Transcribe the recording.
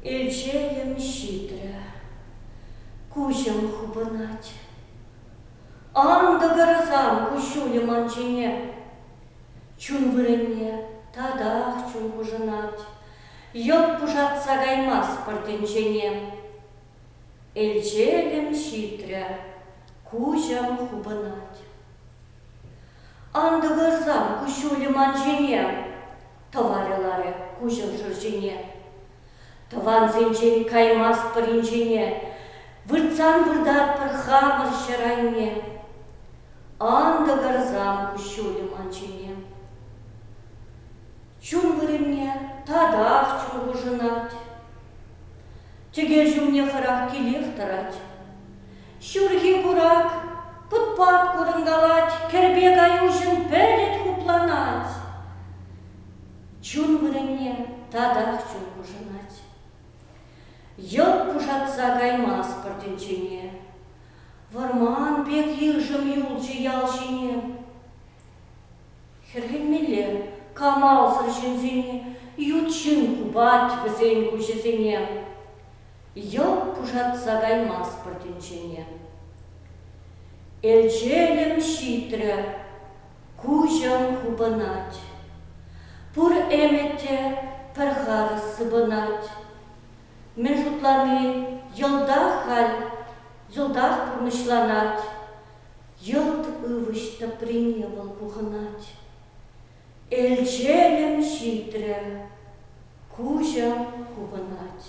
Элчейӗм ҫитрӗ. Куҫӑм хупӑнать. Ан тӑкӑрсан куҫҫулӗ ман ҫине. Чун вырӑнне татах чун хушӑнать. Йӑлт пушатса каймасть пӗр тӗнчене. Элчелӗм ҫитрӗ, куҫӑм хупӑнать. Ан тӑкӑрсан куҫҫулӗ ман ҫине, тӑварӗ ларӗ куҫӑм шӑрҫине. Тӑвансенчен каймастпӑр инҫене, выртсан выртатпӑр хамӑр ҫӗр айне. Ан тӑкӑрсан куҫҫулӗ ман ҫине. Чун вырӑнне татах чун хушӑнать. Тӗкӗр ҫумне хӑрах килех тӑрать. Ҫурхи курак пут-пат курӑнкалать, кӗрпе каюшӗн пӗлӗт хупланать. Чун вырӑнне татах чун хушӑнать. Йӑлт пушатса каймастпӑр тӗнчене. Вӑрман пек йышӑм юлчӗ ял ҫине. Хӗрхенмелле, камалсӑр ҫынсен ют ҫын хупать вӗсен куҫӗсене, йӑлт пушатса каймастпӑр тӗнчене. Элчелӗм ҫитрӗ, куҫӑм хупӑнать. Пур ӗмӗт те пӗр харӑс сыпӑнать. Мӗн шутлани, йӑлтах халь йӑлтах пурнӑҫланать, Йӑлт ывӑҫ тӑприне вӑл пухӑнать. Элчелӗм ҫитрӗ, куҫӑм хупӑнать.